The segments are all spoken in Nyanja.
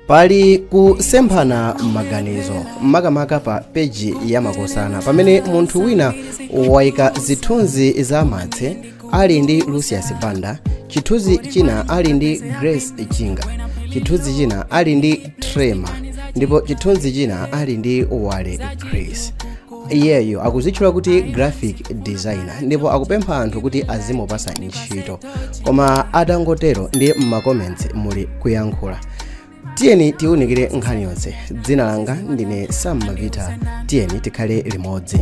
pali kusemphana maganizo makamaka pa peji ya makosana pamene munthu wina waika zithunzi za martse ali ndi lucius banda chithunzi china ali ndi grace chinga chithunzi china ali ndi tremour ndipo chithunzi china ali ndi walycris iyeyo akuzitchula kuti graphic designer ndipo akupempha anthu kuti azimupasa ntchito koma atangotero ndiye m'macomments muli kuyankhula tiyeni tiwunikire nkhani yonse dzina langa ndine sam mavita tiyeni tikhale limodzi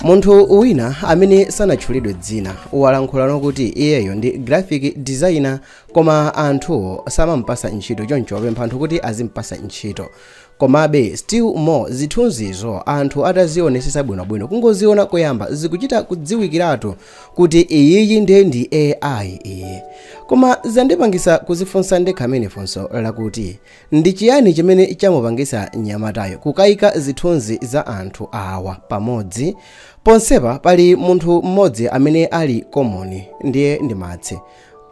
munthu wina amene sanatchulidwe dzina walankhulano kuti iyeyo ndi graphic designer koma anthuwo samampasa ntchito choncho apempha anthu kuti azimpasa ntchito Komabe still more zithunzizo anthu atazionesesa bwinobwino kungoziona koyamba zikuchita kudziwikiratu kuti iyiyi nde ndi AI iyi. Koma zandipangisa kuzifunsa ndekha mene funso lakuti ndi chiyani chimene chamupangisa nyamatayu kukaika zithunzi za anthu awa pamodzi? Ponsepa pali munthu mmodzi amene ali common ndiye ndi Martse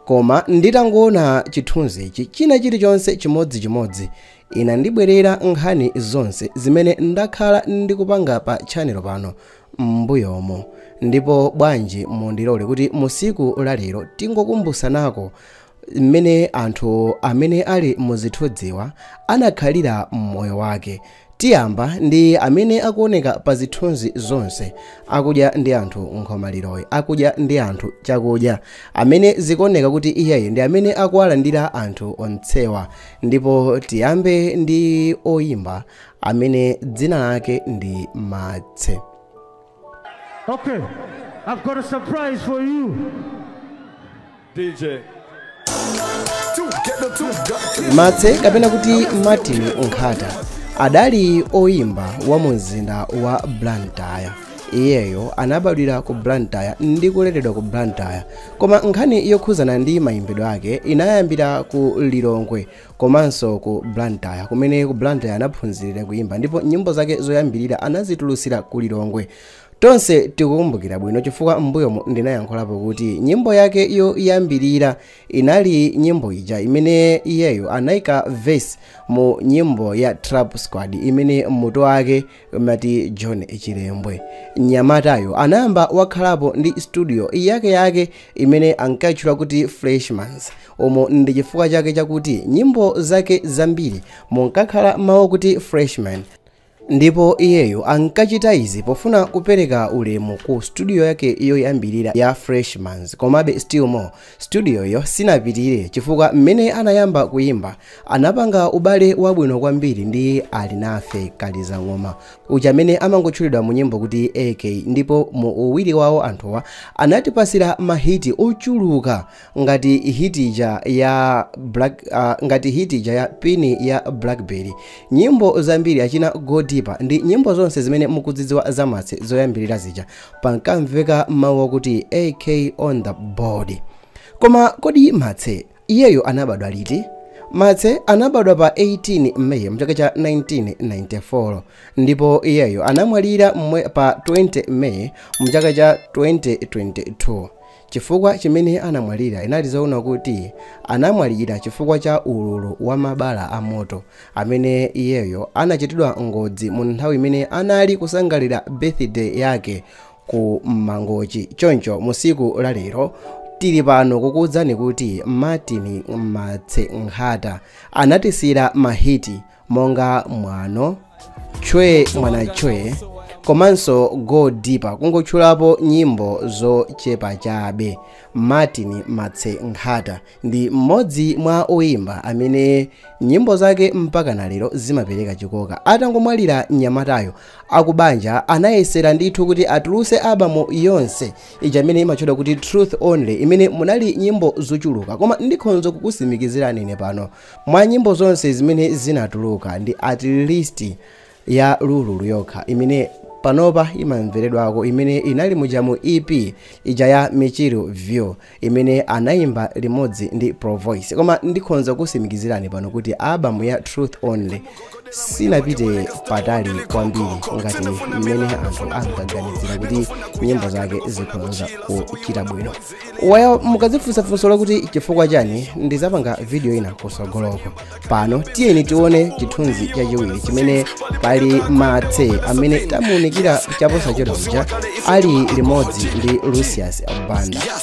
koma nditangoona chithunzichi china chilichonse chimodzichimodzi Inandibwerera nkhani zonse zimene ndakhala ndikupanga pa tchanelo pano m'mbuyomu. Ndipo bwanji mundilole kuti mu siku la lero tingokumbusanako m'mene anthu amene ali muzithunziwa anakhalira m'moyo wake. Tiyamba ndi amene akuoneka pa zithunzi zonse akudya ndi anthu nkhomaliroyi, akudya ndi anthu chakudya, amene zikuoneka kuti iyeyu ndi amene akuwalandira anthu onsewa. ndipo tiyambe ndi oyimba amene dzina lake ndi martse Okay, I've got a surprise for you. DJ. martse kapena kuti martin nkhata adali oyimba wa mu mzinda wa blantyre iyeyo anabadwira ku blantyre ndi kuleredwa ku blantyre Koma nkhani yokhuzana ndi mayimbidwe ake inayambira ku Lilongwe komanso ku Blantyre kumene ku Blantyre anaphunzilira kuyimba ndipo nyimbo zake zoyambilira anazitulusira ku Lilongwe. Tonse tikukumbukira bwino chifukwa m'mbuyomu ndinayankhulapo kuti nyimbo yake yoyambilira inali nyimbo ija imene iyeyo anaika verse mu nyimbo ya Trap Squad imene mutu wake umati john chilembwe mnyamatayo anayamba wakhalapo ndi studio yake yake imene ankatchula kuti freshmans omwe ndi chifukwa chake chakuti nyimbo zake zambiri munkakhala mawu kuti freshman ndipo iyeyo ankachita izi pofuna kupereka ulemu ku studio yake yoyambirira ya freshmans komabe still more Studioyo sinapitirire chifukwa mmene anayamba kuimba, anapanga ubale wabwino kwambiri ndi Alinafe Kalizang'oma, uja amene amangotchulidwa mu nyimbo kuti AK ndipo mu uwiri wawo anthuwa anatipasira ma hit ochuluka ngati hit ija ya Black, ah, ngati hit ija ya Pini ya Blackberry. Nyimbo zambiri achina Go Deeper ndi nyimbo zonse zimene mukuzidziwa za Matse zoyambirira zija pankamveka mawu akuti ak on the board koma kodi matse iyeyo anabadwa liti matse anabadwa pa 18 may mchaka cha 1994 ndipo iyeyo anamwalira mwe- pa 20 may mchaka cha 2022 Chifukwa chimene anamwalira, inali zoona kuti anamwalira chifukwa cha ululu wa mabala a moto amene iyeyo anachitidwa ngozi mu nthawi imene anali kusangalira birthday yake ku Mangochi. Choncho mu siku la lero, tili pano kukuudzani kuti Martin Matse Nkhata anatisiyira ma hit. monga mwano che mwana che komanso go deeper kungotchulapo nyimbo zochepa chabe martin matse nkhata ndi mmodzi mwa oyimba amene nyimbo zake mpaka na lero zimapereka chikoka atangomwalira mnyamatayo akubanja anayesera ndithu kuti atuluse album yonse ija imene imatchedwa kuti truth only imene munali nyimbo zochuluka koma ndikhonza kukusimikizirani ine pano Mwa nyimbo zonse zimene zinatuluka ndi at least ya Lululu yokha imene panopa imamveredwako imene inali muja mu EP ija ya Mchiru View imene anaimba limodzi ndi Provoice. Koma ndikhonza kukusimikizirani pano kuti album ya Truth Only sinapite patali kwambiri ngati mmene anthu ankaganizira kuti nyimbo zake zikhoza kuchita bwino why mukadzifunsa funso lakuti chifukwa chani ndizapanga video ina kusogoloko pano tiyeni tione chithunzi chachiwiri chimene pali matse amene tamuunikira chaposachedwa uja ali limodzi ndi lucius banda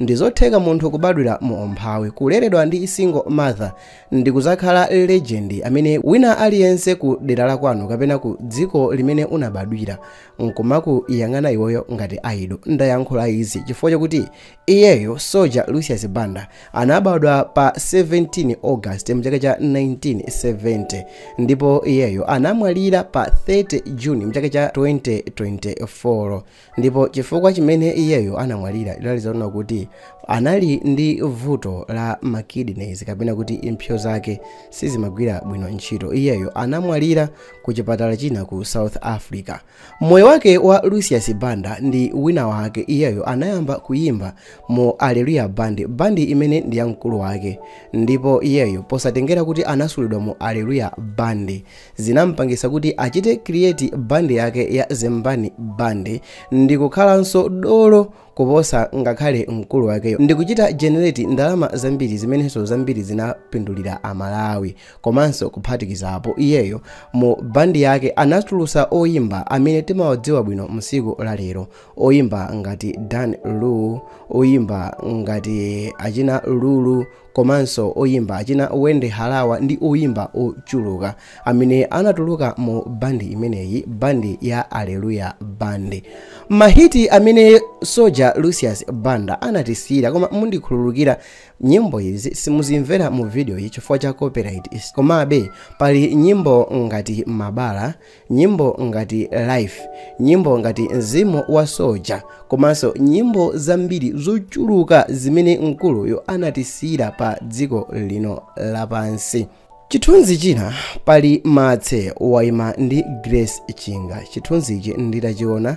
Ndizotheka munthu kubadwira mu umphawi, kuleredwa ndi single mother ndikuzakhala legend amene wina aliyense ku dera lakwanu kapena ku dziko limene unabadwira nkumakuyang'ana iweyo ngati idol. Ndayankhula izi chifukwa chakuti iyeyo Soja Lucius Banda anabadwa pa 17 August mchaka cha 1970 ndipo iyeyo anamwalira pa 30 June mchaka cha 2024. ndipo chifukwa chimene iyeyo anamwalira chidali zonena kuti anali ndi vuto la makidneys kapena kuti impsyo zake sizimagwira bwino ntchito iyeyo anamwalira ku chipatala china ku south africa moyo wake wa lucius banda ndi wina wake iyeyo anayamba kuyimba mu aleluya band bandi imene ndi ya mkulu wake ndipo iyeyo posatengera kuti anasulidwa mu aleluya band zinamupangisa kuti achite create bandi yake ya Zembani Band ndikukhalanso dolo kuposa ngakhale mkulu wakeyo ndikuchita generate ndalama zambiri zimenenso zambiri zinapindulira amalawi komanso kuphatikizapo iyeyo mu bandi yake anatulusa oyimba amene timawadziwa bwino msiku la lero oyimba ngati dan lu oyimba ngati achina lulu komanso oyimba achina Wendy Harawa ndi oyimba ochuluka amene anatuluka mu bandi imeneyi bandi ya Alleluya band mahiti amene soja Lucius Banda anatisira koma mundikhululukira nyimbo izi simuzimvera mu video iyi chifukwa cha copyright komabe pali nyimbo ngati mabala nyimbo ngati life nyimbo ngati mzimu wa soja komanso nyimbo zambiri zochuluka zimene mkuluyo anatisira pa dziko lino lapansi chithunzi china pali matse waima ndi grace chinga chithunzichi nditachiona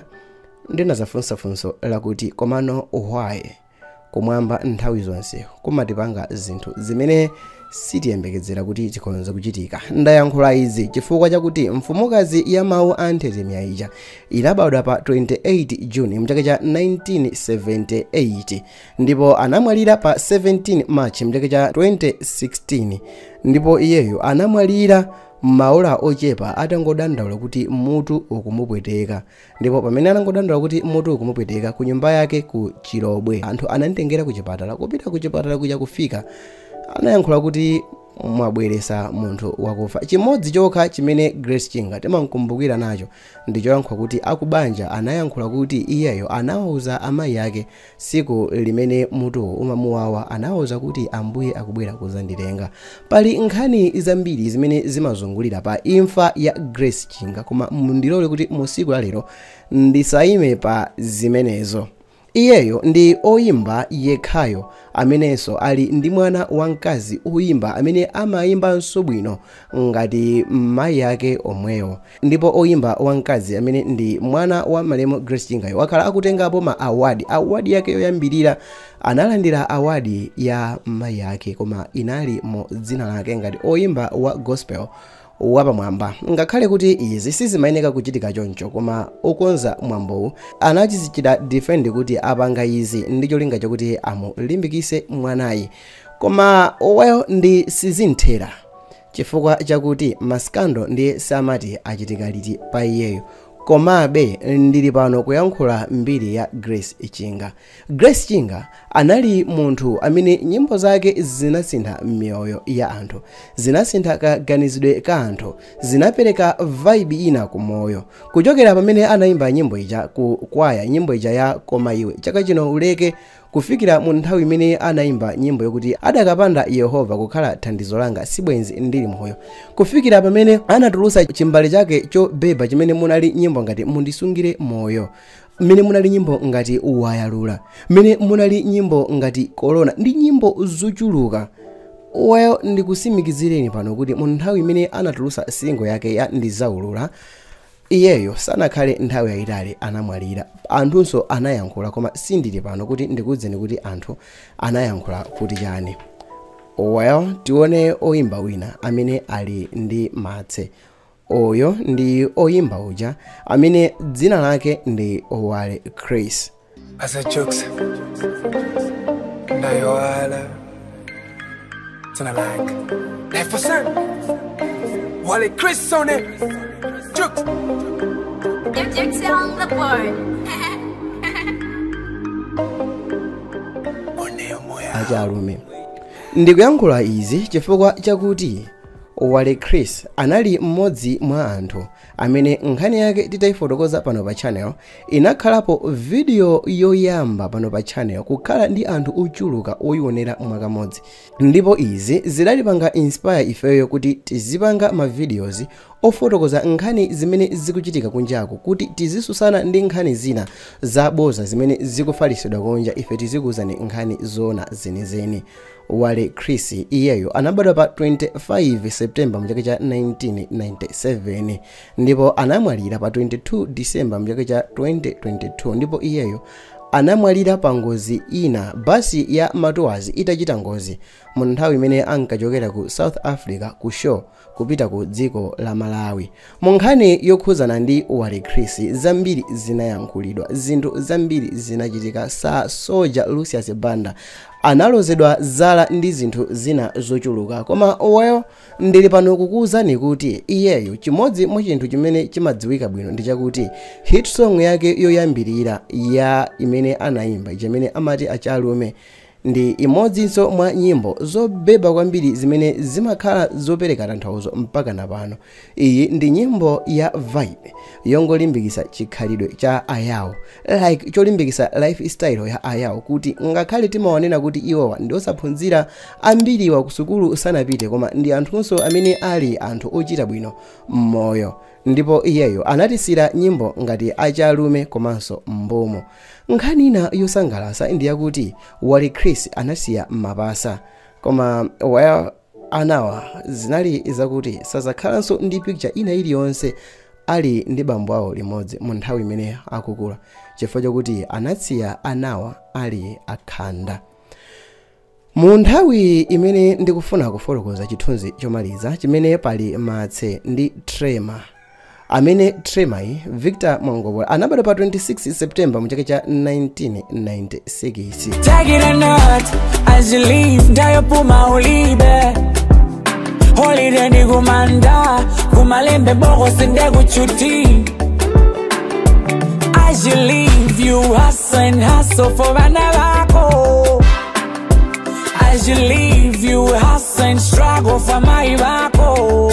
ndinazifunsa funso lakuti komano why Kumwamba nthawi zonse kumatipanga zinthu zimene sitiyembekezera kuti zikhonza kuchitika. Ndayankhula izi chifukwa chakuti mfumukazi ya mawu a nthetemya ija inabadwa pa 28 June mchaka cha 1978 ndipo anamwalira pa 17 March mchaka cha 2016 ndipo iyeyo anamwalira maola ochepa atangodandaula kuti mutu ukumupweteka ndipo pamene anangodandaula kuti mutu ukumupweteka ku nyumba yake ku chilobwe anthu anamtengera ku chipatala kupita ku chipatala kuja kufika anayankhula kuti mwabweresa munthu wakufa chimodzi chokha chimene grace chinga timamkumbukira nacho ndi choyankhula kuti akubanja anayankhula kuti iyeyo anawuza amayi ake Tsiku limene mutuwo umamuwawa anawauza kuti, Ambuye akubwera kudzanditenga. Pali nkhani zambiri zimene zimazungulira pa imfa ya Grace Chinga koma mundilole kuti mu tsiku la lero ndisaime pa zimenezo. Iyeyo ndi oyimba yekhayo amenenso ali ndi mwana wamkazi oyimba amene amaimbanso bwino ngati mayi ake omwewo. ndipo oyimba wamkazi amene ndi mwana wa malemu grace chingayo wakhala akutengapo ma awadi awadi yake yoyambirira analandira awadi ya mayi yake koma inali mu dzina lake ngati oyimba wa gospel wapamwamba ngakhale kuti izi sizimayeneka kuchitika choncho koma okonza mwambowu anachizichita defend kuti apanga izi ndi cholinga chakuti amulimbikise mwanayi koma well ndi sizinthera Chifukwa chakuti ma scandal ndiye samati achitika liti pa iyeyo. Komabe ndili pano kuyankhula mbiri ya Grace Chinga. Grace Chinga anali munthu amene nyimbo zake zinasintha miyoyo ya anthu, zinasintha kaganizidwe ka anthu, zinapereka vibe ina ku moyo. Kuchokera pamene anaimba nyimbo ija ku kwaya, nyimbo ija ya Koma iwe chaka chino uleke, Kufikira mu nthawi imene anayimba nyimbo yokuti Adakapanda Yehova kukhala thandizo langa sibwenzi ndili moyo. Kufikira pamene anatulutsa chimbale chake chobeba chimene munali nyimbo ngati Mundisungire Moyo, mmene munali nyimbo ngati Wayalula, mmene munali nyimbo ngati Korona ndi nyimbo zochuluka. Well, ndikusimikizireni pano kuti mu nthawi imene anatulutsa single yake ya Ndizaulula, Iyeyo sanakhale nthawi yayitali anamwalira. Anthunso anayankhula koma sindili pano kuti ndikuuzeni kuti anthu anayankhula kuti chani. Well tione oyimba wina amene ali ndi matse. Uyu ndi oyimba uja amene dzina lake ndi Wale Chris. Asa jokes. Ndayoala. Tuna like. Life for sun. Wale Chris on it. Jokes. Gypsy on the board. One moya. achalume ndikuyankhula izi chifukwa chakuti wale chris anali mmodzi mwa anthu amene nkhani yake titaifotokoza pano pa channel inakhalapo video yoyamba pano pa channel kukhala ndi anthu ochuluka oyionera mwakamodzi ndipo izi zidatipanga inspire ifeyo kuti tizipanga ma videos ofotokoza nkhani zimene zikuchitika kunjako kuti tizisusana ndi nkhani zina zaboza zimene zikufalisidwa kunja ife tizikuuzani nkhani zoona zenizeni Walycris iyeyo anabadwa pa 25 September mchaka cha 1997 ndipo anamwalira pa 22 December mchaka cha 2022 ndipo iyeyo anamwalira pa ngozi ina basi ya matours itachita ngozi mu nthawi imene ankachokera ku south africa ku show kupita ku dziko la Malawi. Mu nkhani yokhuzana ndi Walycris zambiri zinayankhulidwa, zinthu zambiri zinachitika Sir Soldier Lucius Banda analozedwa zala ndi zinthu zina zochuluka koma well ndili pano kukuwuzani kuti iyeyo chimodzi mwa chinthu chimene chimadziwika bwino ndi chakuti hit song yake yoyambirira ya imene anayimba chimene amati achalume Ndi imodzinso mwa nyimbo zobeba kwambiri zimene zimakhala zopereka tanthauzo mpakana pano. Iyi ndi nyimbo ya vibe yongolimbikitsa chikhalidwe cha Ayao, like cholimbikitsa lifestyle ya Ayao kuti ngakhale timawanena kuti iwowa ndi osaphunzira, ambiriwa kusukulu sanapite koma ndi anthunso amene ali anthu ochita bwino m'moyo. ndipo iyeyo anatisiyira nyimbo ngati achalume komanso mbumu nkhani ina yosangalatsa ndi yakuti Walycris anasiya mapasa koma well anawa zinali zakuti sazakhalanso ndi picture ina iliyonse ali ndi bambo awo limodzi mu nthawi imene akukula chifukwa chakuti anasiya anawa ali akhanda mu nthawi imene ndikufuna kufotokoza chithunzi chomaliza chimene pali Martse ndi Tremour amene Tremouryi victor mwangobola anabadwa pa 26 september mu chaka cha 1996 Take it or not, as you live, day yopuma ulibe. Holiday ndi kumanda, kumalembe boko sinde kuchuti. As you live, you hustle and hustle for vana vako as you live you hustle and struggle for mai vako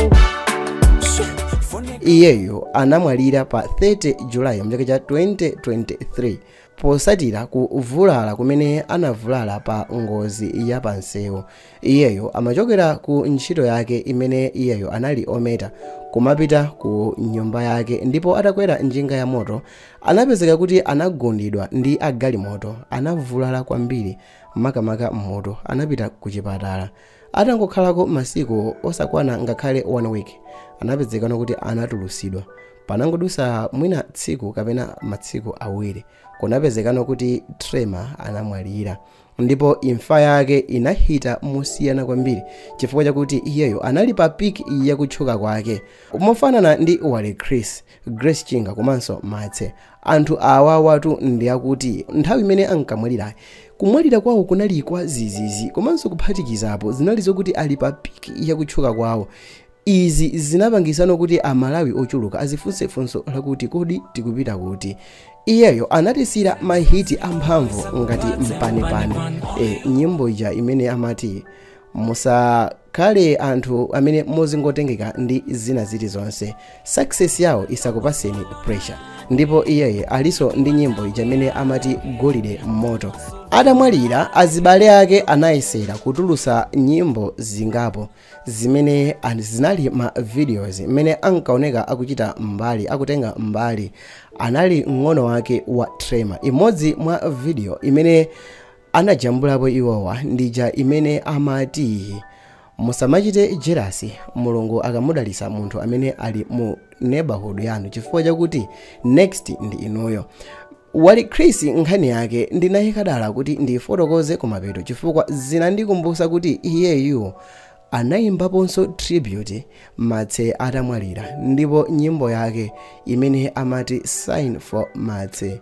iyeyo anamwalira pa 30 julayi mchaka cha 2023 posatira kuvulala kumene anavulala pa ngozi ya pansewu iyeyo amachokera ku ntchito yake imene iyeyo anali ometa kumapita ku nyumba yake ndipo atakwera njinga ya moto Anapezeka kuti anagundidwa ndi a galimoto, anavulala kwambiri makamaka m'mutu, anapita kuchipatala. Atangokhalako masiku osakwana ngakhale 1 week, anapezekano kuti anatulusidwa. Panangodusa mwina tsiku kapena matsiku awiri, kunapezekano kuti Tremour anamwalira. Ndipo imfa yake inahita mosiyana kwambiri chifukwa chakuti iyeyo anali pa peak yakutchuka kwake. Mofanana ndi Walycris, Grace Chinga komanso Martse. Anthu awawatu ndi akuti nthawi imene ankamwalirayi, kumwalira kwawo kunali kwadzidzidzi komanso kuphatikizapo zinali zokuti ali pa peak ya kutchuka kwawo. Izi zinapangitsano kuti Amalawi ochuluka azifunse funso lakuti kodi tikupita kuti? Iyeyo anatisiyira mahiti amphamvu ngati Mpanepane. E, nyimbo ija imene amati musa khale anthu amene muzingotengeka ndi zina zilizonse success yawo isakupatseni pressure ndipo iyeye alinso ndi nyimbo ija imene amati golide mmoto atamwalira azibale ake anayesera kutulutsa nyimbo zingapo zimene an- zinali ma videos imene ankaoneka akuchita mbali akutenga mbali anali mng'ono wake wa trema imodzi mwa video imene anajambulapo iwowa ndi ija imene amati musamachite jerasi mulungu akamudalitsa munthu amene ali mu neighborhood yanu chifukwa chakuti next ndi inuyo wali chris nkhani yake ndinayika dala kuti ndiyifotokoze kumapeto chifukwa zinandikumbutsa kuti iyeyu anayimbaponso tribute martse atamwalira ndipo nyimbo yake imene amati sign for martse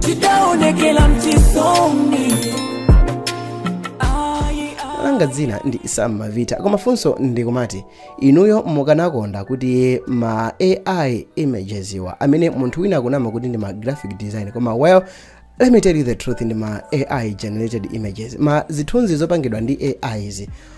tidaonekela m'chisoni langa dzina ndi sam mavita koma funso ndikumati inuyo mukanakonda kuti ma ai images awa amene munthu wina akunama kuti ndi ma graphic design koma well let me tell you the truth ndi ma ai generated images ma zithunzi zopangidwa ndi ais